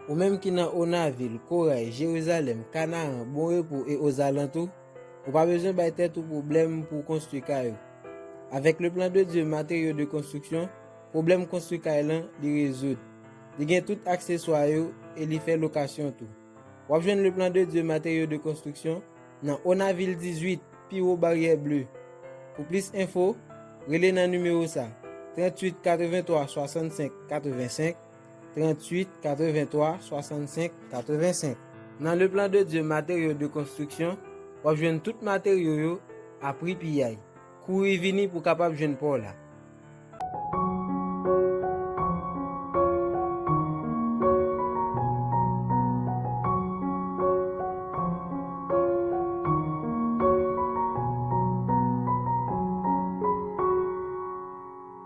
Ou menm ki nan Onavil, Koray, Jerizalèm, Kanaran, Bon Repo e ozalantou, ou pa bezwen bay tèt ou pwoblèm pou w konstwi kay ou. Avèk Le Plan de Dieu Matériaux de Construction, pwoblèm konstwi kay lan li rezoud. Li gen tout akseswa yo e li fè lokasyon tou. W ap jwenn Le Plan de Dieu Matériaux de Construction nan Onavil 18, pi wo Baryè Ble. Pou plis enfo, rele nan nimewo sa, 38 83 65 85, 38, 83, 65, 85. Nan Le Plan de Dieu Matériaux de Construction, w ap jwenn tout materyo yo a pri piyay. Kouri vini pou w kapab jwenn pa w la.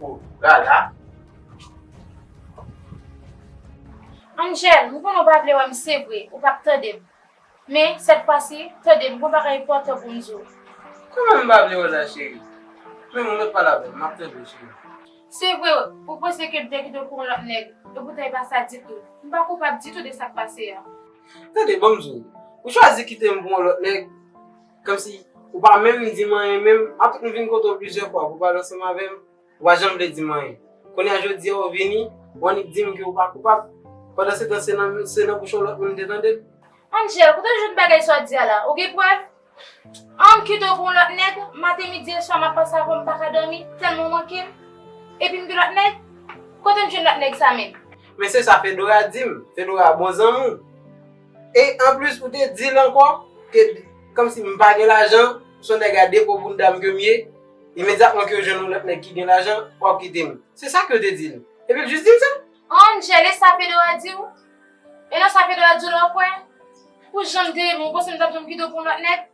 Bon gala. Angel, m konnen w pa vle wè m se vre, ou pa p tande m. Men, sèt fwa si, tande m, gen yon bagay enpòtan pou m di w. Kòman m pa vle wè w la cheri? Men m, ret pale avè m, m ap tande w cheri. Se vre, ou panse ke m te kite w pou yon lòt nèg, epoutan e pa sa ditou. M pa koupab ditou de sa k pase a. Tande banm di w, ou chwazi kite m pou yon lòt nèg, kòmsi ou pa menm di m anyen menm, apre m vin kote w plizyè fwa pou w pale ansanm avè m, ou pa janm vle di m anyen. Kounye a jodi a ou vini, ou annik di m ke ou pa koupab, pandansetan se nan bouch yon lòt moun m te tande l. Angel, kote w jwenn bagay sa w di a la? Ou gen prèv? Ann kite w pou yon lòt nèg, maten midi e swa m ap panse avè w m pa ka dòmi tèlman w manke m. Epi m gen lòt nèg? Kote m jwenn lòt nèg sa menm? Men se sa Fedora di m, Fedora bon zanmi w. E anplis ou te di l ankò ke kòmsi m pa gen lajan, se yon nèg a depo boun dam ke m ye, imedyatman ke w jwenn yon lòt nèg ki gen lajan, w ap kite m. Se sa ke w te di l. Epi l jis di m sa? Ann jele sa Fedora di w. E nan sa Pedro a di w la w kwè? Pou jan m te renmen w, ou panse m t ap janm kite w pou yon lòt nèg?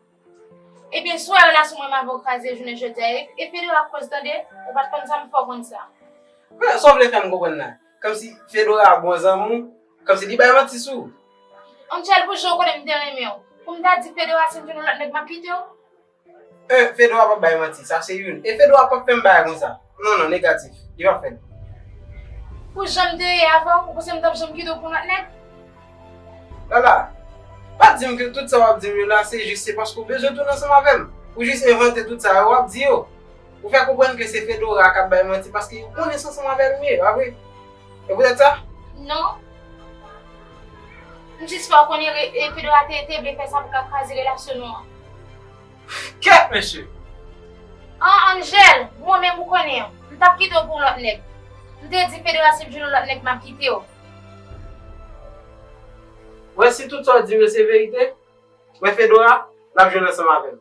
Ebyen, si w wè relasyon mwen avè w kraze jounen jodi a e Pedro a koz tande, ou pa t konn sa m fè w konn sa. Sa w vle fè m konprann la? Kòmsi Fedora a bon zanmi w, kòmsi li bay manti sou ou? Angel, pou jan w konnen m te renmen w, pou m ta di Pedro a si m jwenn yon lòt nèg m ap kite w? Euhh fedwa pap bay manti sa se youn e fedwa pap fèm bagay konsa non non negatif li pap fèl. Pou janm te ye avèw ou panse m tap janm kitew pou lòt nèg. Lala pa dim ke tout sa wap dim yo la se jis se paske ou bezwen tounen ansanm avèm ou jis envante tout sa yo wap di yo ou fè konprann ke se fedora kap bay manti paske ou konnen sa ansanm avèl mye pa vre. E poutèt sa? Non. M jis fè w konnen Pedro a te vle fè sa pou ka kraze relasyon nou an. Kèt mesye! An Angel, mwen menm ou konnen, m t ap kite w pou yon lòt nèg. M te di Pedro a si m jwenn yon lòt nèg m ap kite w. Wè si tout sa w di m yo se verite, wè Fedora, l ap jwenn ansanm avè m.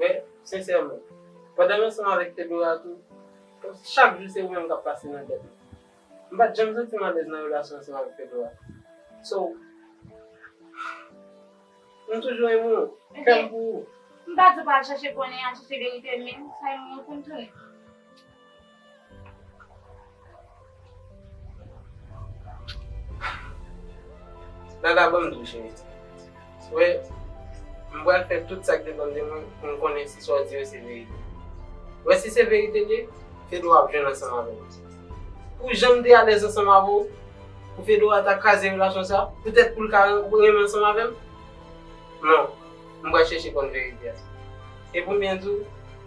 Men, sensèman, pandan m ansanm avèk Fedora tou, kòmsi chak jou se ou menm k ap pase nan tèt mwen. M pa t janm santi m alèz nan relasyon ansanm avèk Fedora. So, m toujou renmen ou. Kè m pou ou. M pa di w pa al chèche konnen, al chèche verite, men sa yon moman pou n tounen. Vagabond tou cheri. Wè, m pral fè tout sa k depann de mwen pou m konnen si sa w di yo se verite. Wè si se verite l ye, Fedwa ap jwenn ansanm avè m. Pou jan m te alèz ansanm avè w, pou Fedwa ta kraze relasyon sa a, poutèt pou l ka renmen ansanm avè m? Non, m pral chèche konn verite a. E pou m byen di w,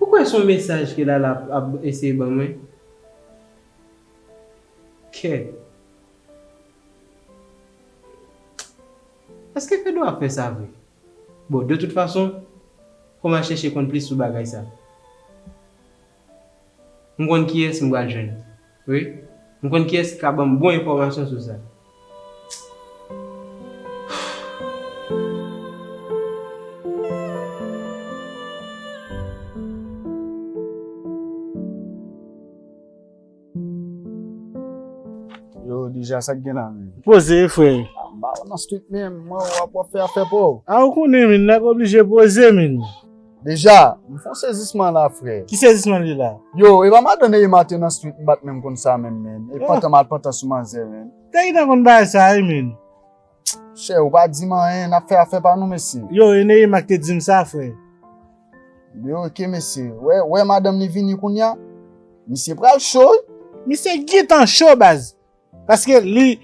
Ou kwè son mesaj ke lala ap eseye ban mwen? Kè. Eske fedou ap fè sa vre? Bon de tout fason fòm al chèche konn plis sou bagay sa. M konn kiyès m pral jwenn. Wi m konn kiyès ki ka banm bon enfòmasyon sou sa. Yo Dija sak gen la menm. Poze frè. M pa wè nan street menm. M wè wap fè afè paw. A ou konnen min nèg oblije poze min. Deja, m fon sezisman la frè. Ki sezisman li la? Yo, e pa madan Neïma te nan street m pat menm konn sa menm menn. E pantan mal pantan sou manzè menn. Taïna konn bagay sa wi menn. Chè, ou pa dim anyen, nap fè afè pa nou mesye. Yo, e Neïma ki te dim sa frè. Yo, ok mesye. Wè, wè madanm li vini kounya. Misye pral cho wi. Misye gintan cho baz. Paske li,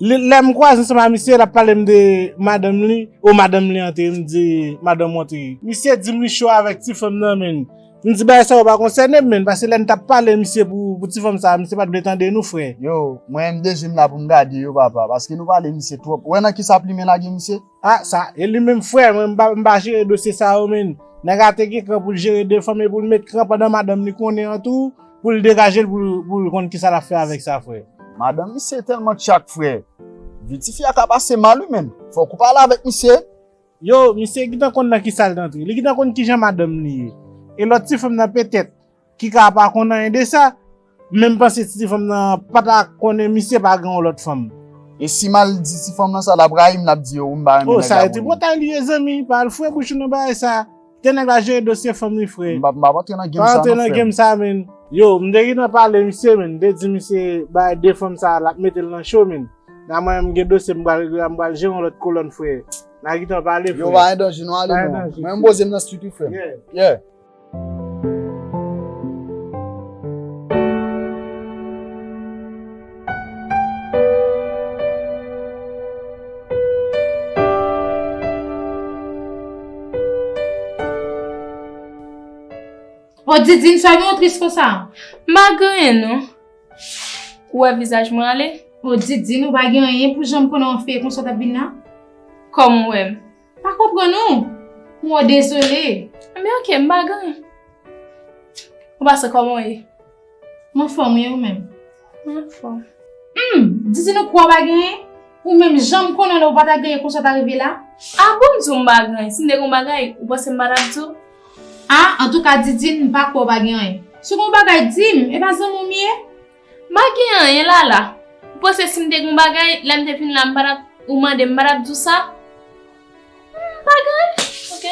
lè m kwaze ansanm ak misye, l ap pale m de madanm li, o madanm li an te, m di madanm ou an te. Misye di m li cho avèk ti fanm nan menn. M di bagay sa yo pa konsène m menn, paske lè n t ap pale misye pou ti fanm sa, misye pa t vle tande nou frè. Yo, mwen m de je m la pou m gade yo papa, paske nou pale misye twòp. Ou wè nan kisa plimen lage misye? A sa e li menm frè mwen m pa jere dosye sa yo menn nèg a te gen kran pou l jere 2 fanm epi l met kran pandan madanm li konnen an tou pou l degaje l pou l konn kisa l ap fè avèk sa frè. Madan misye tèlman tchak frè. Vi tifi a ka pase mal wi menn. Fòk ou pale avèk misye. Yow misye gitan konn nan kisal t antre li gitan konn kijan madanm li ye e lòt ti fanm nan petèt Ki ka pa konn anyen de sa. Menm panse ti fanm nan pa ta konnen misye pa gen yon lòt fanm. E si mal di ti fanm nan sa lap rayim lap di yo wi m pa renmen nèg la pou li. Oh sa e tripotay li ye zanmi pa al fwe bouch ou nan bagay sa. Kite nèg la jere dosye fanm li fre. M pap antre nan game sa non frèm. Pa antre nan game sa menn. Yo m te gentan pale misye menn m te di misye bagay de fanm sa lap metel nan cho menn. Nan mwen menm m gen dosye m pral regle la m pral jere yon lòt kolòn fre. Nan gentan pale fre. Yo pa andanje non ale non. Mwen m poze m nan street wi frèm. Yeah. O didine sa gen yon tris konsa? Ma gen nou. Ou wè vizaj mwen ale? O didine ou pa gen anyen pou janm konnen yon feyton sa tap vin nan? Kòm ou wèm. Pa konpran nou. Mwen dezole. Enben ok, m pa gen. Ou pa se koman w ye? M anfòm e ou menm? M anfòm. Hum! Didi nou kwè w pa gen? Ou menm jan m konnen w ou pa ta gen konsa w ta rive la? Ah bon m di w m pa gen? Si m te gen yon bagay, ou panse m pa ta di w? Ah antouka Didi m pa kwè w pa gen anyen. Si w gen yon bagay di m, e pa zanmi w m ye? M pa gen anyen Lala. Ou panse si m te gen yon bagay, lè m te fin la m pa t ap, ou mande m m pa t ap di w sa? Humm m pa gen anyen ok.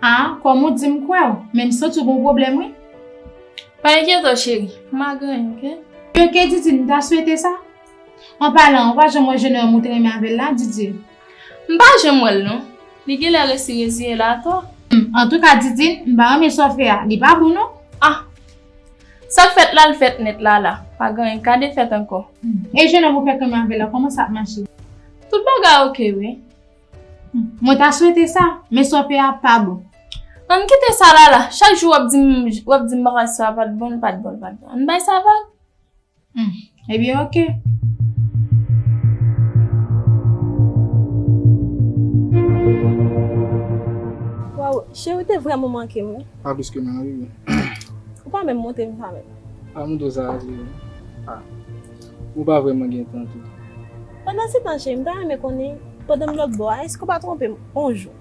A, kòm ou di m kwè w, men m santi w gen yon pwoblèm wi. Pa enkyete w cheri, m pa gen anyen ok. Ok Didi, m ta swete sa. An palan, ou pa janm wè jenòm ou te renmen avè l la, Didi? M pa janm wè l non. Li gen lè resi reziye l atò. Humm, antouka Didi, m pa renmen sa w fè a, li pa bon non. A! Sak fèt lal fèt nèt lala pa gen ka defèt ankò. E jenòm ou fèk renmen avèl la kòman sa ap mache. Tout bagay ok wi. Mwen ta swete sa, men sa w fè a pa bon. Ann kite sa lala, chak jou wap dim wap dim bagay sa pat bon li pat bon li pat bon ann bay sa vag. Humm ebyen ok. Waww cheri ou te vrèman mankem wi. Pa plis ke mwen rii. Ou pa menm montrem sa menm. Pa montre sa a cheri. Ah ou pa vrèman gen tan tou. Pandan se tan cheri m ta renmen konnen pandan m lòtbò a èske ou pa twonpem on jou.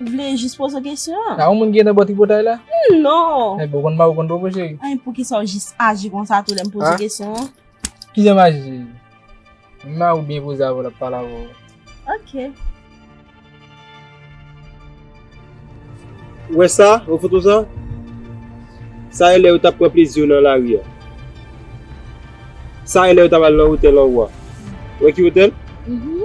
Ou vle jis poze w kesyon an? A yon moun gen nan bò tripotay la? Non! Enben ou konn mari ou konn bobo cheri? Anh poukisa ou jis aji konsa tou lè m poze w kesyon an? Kijan m aji cheri? M mari ou byen poze avè w l ap pale avè w. Ok. Ou wè sa? Ou wè foto sa? Sa e lè yo t ap pran plezi yo nan lari a. Sa e lè yo t ap al nan otèl anwo a. Ou wè ki otèl? Mh.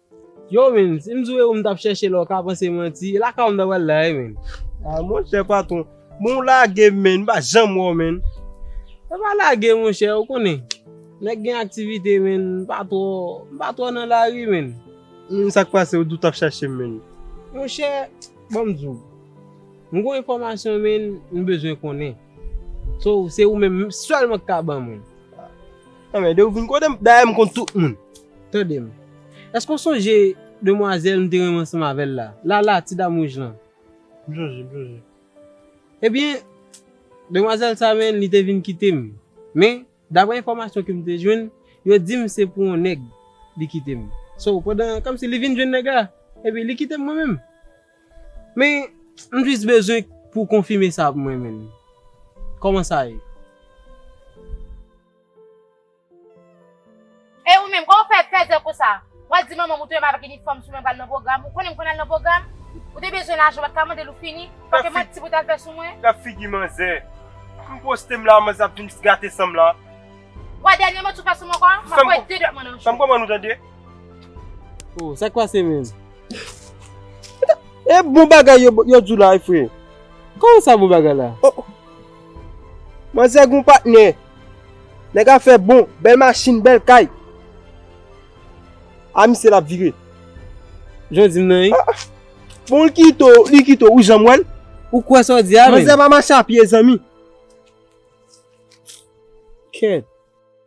Yow menn si m di w e ou m tap chèche la ou ka panse manti, e lakay ou m ta pral la e menn? Ah monchè patron, bon ou lage m menn, m pa janm wè w menn. E pa lage monchè, ou konnen nèg gen aktivite menn, m pa twò, m pa twò nan lari menn. Menn sa k pase ou di w tap chèche m menn? Monchè, ban m di w, m gon enfòmasyon menn m bezwen konnen, so se ou menm sèlman k ka ban mwen. Anmède ou vin kote m, dayè m konn tout moun. Tande m. Èske w sonje demwazèl m te renmen ansanm avè l la? Lala, ti dam wouj lan. M sonje, m sonje. Ebyen, demwazèl sa a menm, li te vin kite m. Men, dapre enfòmasyon ke m te jwenn, yo di m se pou yon nèg li kite m. So, pandan, kòmsi li vin jwenn nèg la, epi li kite m mwen menm. Men, m jis bezwen pou w konfime sa pou mwen menm. Kòman sa ye? E ou menm, kòman w fè fèzè konsa? W'a di manman m ou te wè m avèk inifòm sou mwen pral nan pwogram, ou konnen m konn al nan pwogram? Ou te bezwen lajan ou pat ka mande l ou fini, paske manti pou w t al fè sou mwen? Gad figi manzè, m poste m la manzè ap vin gate san m la. W'a dènye manti ou fè sou mwen ankò? M'ap voye 2 dwèt mwen nan jou. San m konprann ou tande. Oh, sa k pase menm? E bon bagay yo di w la e frè? Kòman sa bon bagay la? Manzè gon patnè. Nèg afè bon, bèl machin, bèl kay. A misye lap vire. Jan w di m nan wi. Bon l kite w, li kite w, ou janm wè l? Ou kwè sa w di a menm? Manzè pa mache a pye zanmi. Kèt.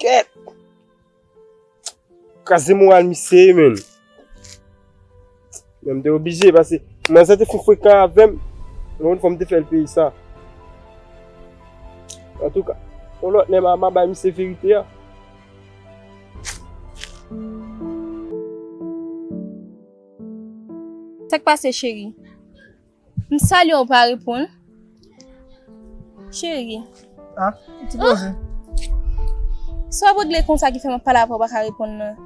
Kèt! Kras de moral misye ye menm. Menm de oblije pase. Mwen se te foun fwe ka avèm. Mwen fòm te fèl peyi sa. An tou ka. Ou lòt lè mwa mwa bay misye verite ya. Sèk pase cheri? M salye w pa reponn. Cheri. Ah, ou ti poze. Se wap regle konsa ki fè map pale avè w pa ka reponn nan.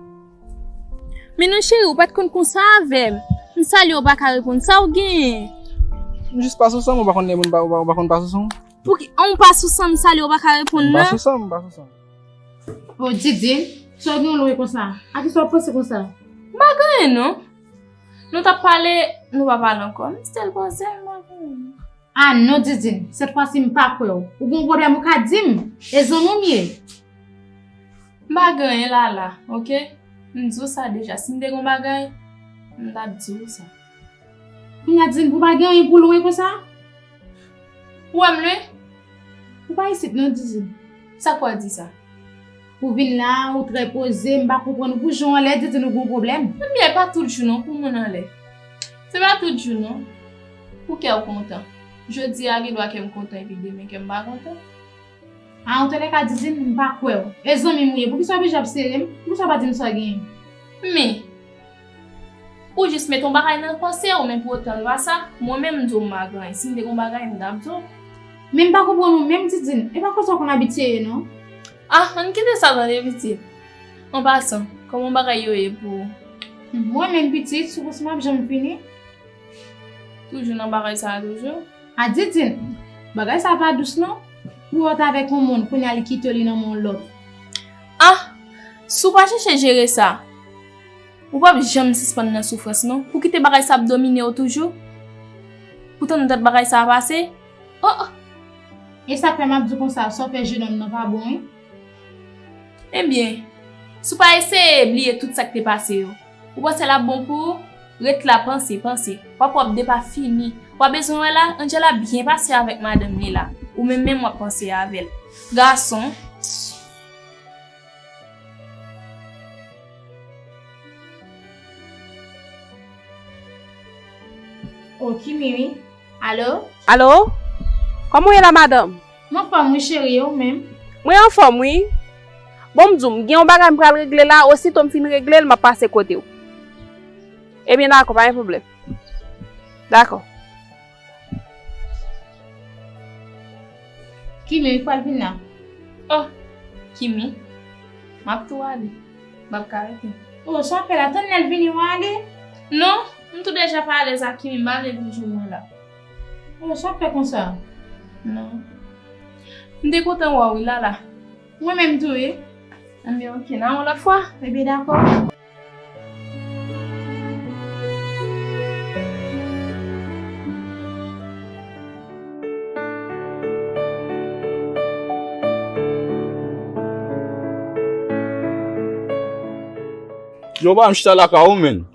Men non cheri ou pat konn konsa avè m. M salye w pa ka reponn. Sa w genyen? M jis pa sou san m, ou pa konn lè moun pa, ou pa konn pa sou san m? Pouki, an ou pa sou san m salye w pa ka reponn nan? M pa sou san m, m pa sou san m. Oh Didine, sa w gen w lwen konsa? A kisa w panse konsa? M pa gen anyen non. Nou tap pale nou pa pale ankò m stil poze m ap tann. A non Didine, sèt fwa si m pa kwè w. Ou gon pwoblèm ou ka di m. E zanmi w m ye. M pa gen anyen Lala ok. M di w sa deja si m te gon bagay m ta di w sa. Kounye a Didine pou w pa gen anyen pou w lwe konsa? Ou wè m lwe? Ou pa isit non Didine. Sa k fè w di sa? Ou vin la a ou trè poze, m pa konprann ou pou jan w anlè di di nou gon pwoblèm. Ebyen e pa tout jou non pou moun anlè. Se pa tout jou non pou kè w kontan. Jodi a gen dwa kè m kontan epi demen kè m pa kontan. Antoulèka Didine m pa kwè w. E zanmi m ou ye poukisa w oblije ap sere m, poukisa w pa di m sa w genyen? Men, ou jis mete yon bagay nan panse w men pou otan se pa sa. Mwen menm m di w m pa gen anyen, si m te gen yon bagay m t ap di w. Men m pa konprann ou menm Didine, e pa konsa w konn abitye ye non. Ah ann kite sa tande pitit. An pasan, kòman bagay yo ye pou ou? Mwen menm pitit, soukous mwen ap janm fini? Toujou nan bagay sa a toujou? Ah Didine! Bagay sa a pa dous non. Pou wè w t avèk yon moun, kounye a li kite w li nan men yon lòt. Ah! Si w pa chèche jere sa, ou pap janm sispann nan soufrans non. Pou kite bagay sa ap domine w toujou? Pou tande dat bagay sa a pase? Oh! E sa k fè m ap di w konsa, sa w fè jenòm nan pa bon wi. Ebyen, si w pa eseye bliye tout sa k te pase yo, ou panse l ap bon pou ou? Ret la panse, panse. W ap wè w ap depafini. W a bezwen wè la? Angela byen pase avèk madanm li la. Ou menm menm w ap panse avè l. Gason. Oh, Kimi wi. Alo? Alo? Kòman w ye la madanm? M anfòm wi cheri, e ou menm? Mwen anfòm wi. Bon m di w, m gen yon bagay m pral regle la, osito m fin regle l m ap pase kote w. Ebyen dakò, pa gen pwoblèm. Dakò. Kimi, m pral vin la. O! Kimi, m ap tou ale. M ap ka rete. O, sa w fè la? Tann lè l vini w ale? Non! M tou deja pa alèz ak Kimi malgre jou mwen la. Oh sa w fè konsa? Non. M te kontan wè w wi Lala. Mwen menm tou wi. Enben ok nan yon lòt fwa. Enben dakò. Yo banm chita lakay ou menn.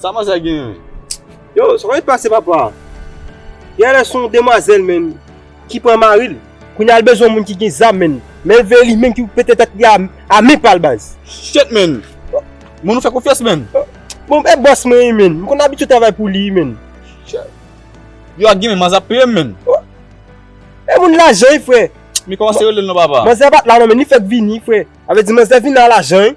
Sa manzè a genyen? Yo, sa konn pase papa. Gen lè son demwazèl menn ki pran mari l. Kounya l bezwen yon moun ki gen zam menn. Men vre li menm ki pou pete tèt li a men pa l baz. Shitt menn. Moun ou fè konfyans menn. Bon e bòs mwen wi menn. M konn abitye travay pou li wi menn. Shitt. Yo ak ginen manzè ap peye m menn. E moun lajan wi frè. M komanse rele l non papa. Manzè a pat la non menn li fèk vini frè. Sa vle di manzè vini a lajan wi.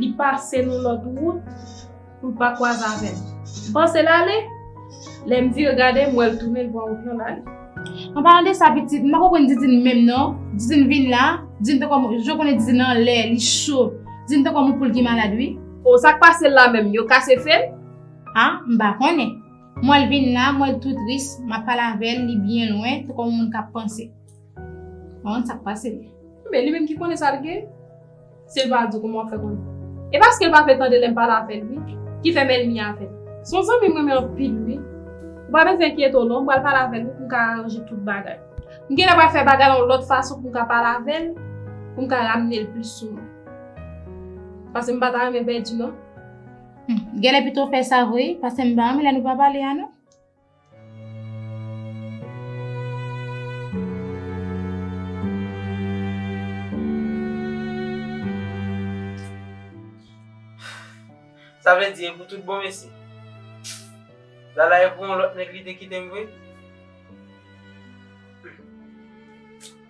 Li pase nou lòt wout pou l pa kwaze avè m. M panse l ale, lè m vire gade m wè l tounen l pran wout nan l ale. An palan de sa pitit, m pa konprann Didine menm non. Didine vin la, Didine tankou yon moun, jan w konnen Didine anlè, li cho. Didine tankou yon moun poul ki malad wi. O, sa k pase l la menm? Yo kase fe l? A, m pa konnen. M wè l vin la, m wè l tou tris, m ap pale avè l, li byen lwen, tankou yon moun k ap panse. M pa konn sa k pase l. Men, li menm ki konnen sa l gen. Silva di, Kouman w fè konnen? E paske l pa vle tande lè m pale avè l wi, ki fè m ènmi avè l. Se yon zanmi m renmen anpil wi. Ou pa bezwen enkyete w non, m pral pale avè l wi pou m ka aranje tout bagay. M genlè pral fè bagay la yon lòt fason pou m ka pale avè l, pou m ka ramne l plis sou mwen. Paske m pa ta renmen pèdi non. Hum, genlè pito w fè sa vre wi, paske m pa renmen lè nou pa pale a non. Sa vle di e pou tout bon mesye? Lala e pou yon lòt nèg li te kite m vre?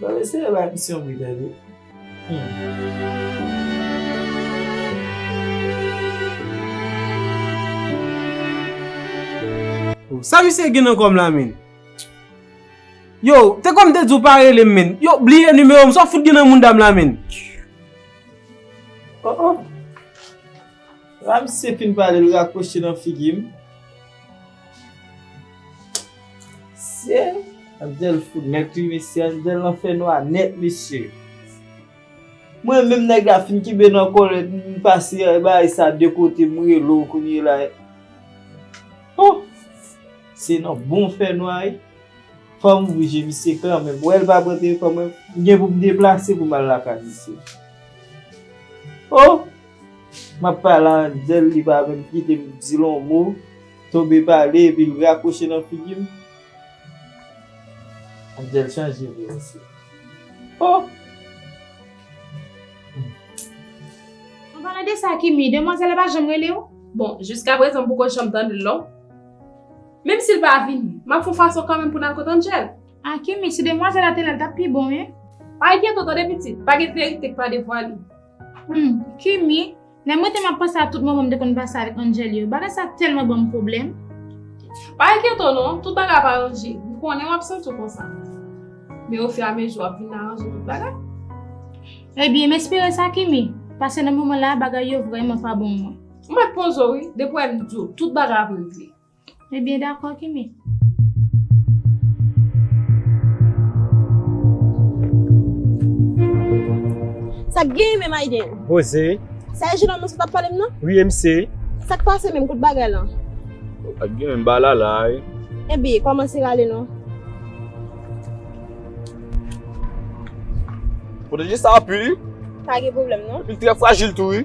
Mwen eseye bay misye yon bgy wi humm. Sa misye gen nan kòm la menn? Yow, te kwè m te di w pa rele m menn? Yow, bliye nimewo m, sa w fout gen nan mounda m la menn? Oh oh. Ramsey fin pale l rakwoche nan figi m. Mesye! Abdel fout nèt wi mesye Abdel nan fè nwa nèt mesye. Mwen menm nèg la fin kenbe nan kòlèt m m pase bagay sa de kote m rele w kounye la. Ho! Se nan bon fè nwa wi. Fò m ouvri je misye kanmenm. M wè l pa pran telefòn mwen. M gen pou m deplase pou m al lakay misye. Ho! Map pale a Angel li pa menm kitem dil on mo, Tobe pale epil rakwoche nan figim, Angel chanje vre mesye ohh. An palan de sa Kimi, demwazèl la pa janm rele w? Bon, jiska prezan m poko janm tande l non. Menm si l pa vini, m ap fon fason kanmenm pou n al kot Angel. Ah Kimi, si demwazèl la te la l t ap pi bon wi. Pale byen to tande pitit, pa gen verite k pa devwale. Humm Kimi, lè mwen te map panse a tout moman m te konn pase avèk Angel yo, bagay sa tèlman ban m pwoblèm. Pa enkyete w non, tout bagay ap aranje, m konnen w ap santi w konsa. Men ofiramezi w ap vin aranje tout bagay. Ebyen, m espere sa Kimi, pase nan moman la bagay yo vrèman pa bon mwen. M pat poze w wi, depi w wè m di w, tout bagay ap regle. Ebyen dakò Kimi. Sak genyen menm Aiden? Rose. Sa e jenòm nan sot ap pale m nan? Wi em se. Sak pase menm kot bagay lan? Pat gen menm ba lala a e. Ebyen kòmanse rale non. Pwoteje sa a pu wi. Pa gen pwoblèm non. Epi l trè frajil tou wi.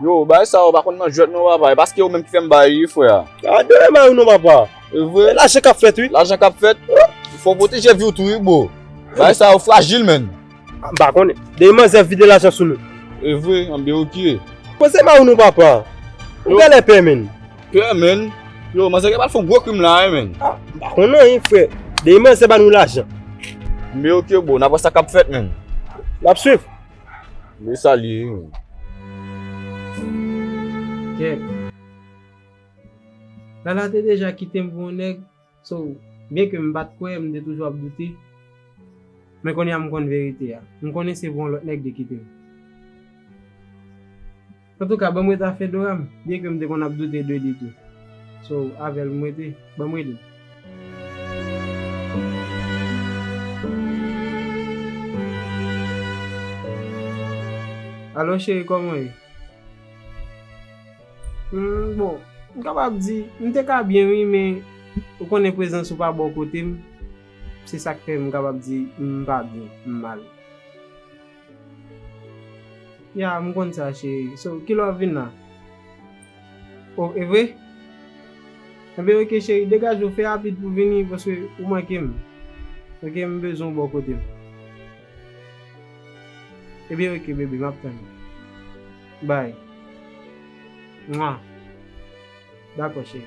Yo, bagay sa yo pa konn nan jwèt non papa, e pa se yo menm ki fè m ba yo wi frè a. A de yo ba yo non papa. E vre. E lajan k ap fèt wi. Lajan k ap fèt. Fò w pwoteje vi w tou wi bro. Bagay sa yo frajil menn. A m pa konnen. Dèyè manzè vide lajan sou nou. E vre, anben ok. Manzè ba yo non papa. Ou gen lè pè menn. Pè menn. Yo, manzè gen pou al fè yon gwo krim la wi menn. A m pa konnen anyen frè. Dèyè manzè ba nou lajan. Anben ok bro, n ap wè sa k ap fèt menn. N ap swiv. Mwen salye yon. Kèt. Lala te deja kite m pou yon nèg, so, byen ke m pa t kwè, m te toujou ap doute. Men kounye a m konn verite a. M konnen se pou yon lòt nèg li kite m. Antouka banm ret a Fedora m byen ke m te konn ap doute de li tou so avèl m rete banm ret li. Alo cheri kòman w ye? Hum bon m kapab di m te ka byen wi men ou konnen prezans ou pa bò kote m se sak fè m kapab di m pa byen m mal. Ya, m konn sa cheri. So, kilè wap vin la? O, evre? Enben ok cheri, degaje w, fè rapid pou w vini paske ou manke m. Ok, m bezwen w bò kote m. Enben ok bebe, map tann ou. Bye. Mwa. Dakò cheri.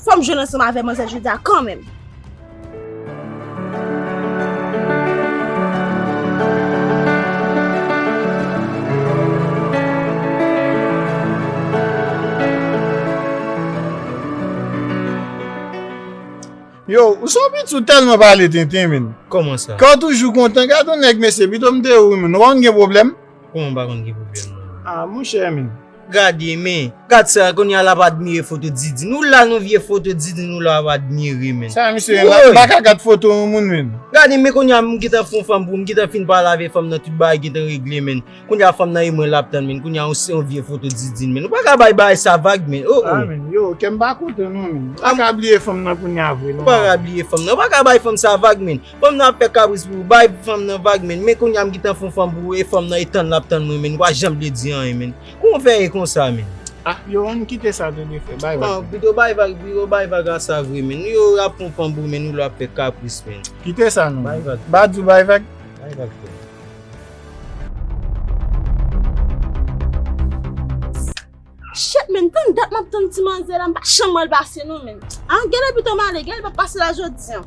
Fò m jwenn ansanm avè manzè Jida kan menm. Yo, ou son piti ou tèlman pale tenten menn. Kòman sa? Kè w toujou kontan, gad yon nèg mesye, pito m te ou menm, nou wè m gen pwoblèm? Kouman ou pa konn ki pwoblèm mwen an? Ah mon cher men. Gade men. Gad sa kounye a lap admire foto Didi. Nou la nou vye foto Didi nou la ap admire men. Sa misye ye la? M paka gad foto yon moun men. Gade men kounye a m gentan fon fanm pou m gentan fin pale avèk fanm nan tout bagay gentan regle men. Kounye a fanm nan e mwen lap tann men kounye a yon se yon vye foto Didi men. Nou paka bay bagay sa vag men. Oh oh. Amen. Yo kèm pa kontan non men. M paka bliye fanm nan kounye a vre non. Ou paka bliye fanm nan. Ou paka bay fanm sa vag men. Fanm nan ap fè kabris pou ou bay fanm nan vag menn men kounya m gintan fon fanm pou ou e fanm nan e tann lap tann mwen menn pa janm vle di anyen menn kouman ou fè e konsa menn. Ah yo ann kite sa tou de frè bay vag menn. Pito bay vag pito bay vag a sa vre menn nou yo ap fon fanm pou ou menn ou la ap fè kapris menn. Kite sa non bay vag. Badou bay vag. Bay vag frè. Chet menn tann dat map tann ti manzè la m pa janm wèl pase non menn a gen lè pitom ale gen lè li pap pase la jodi an.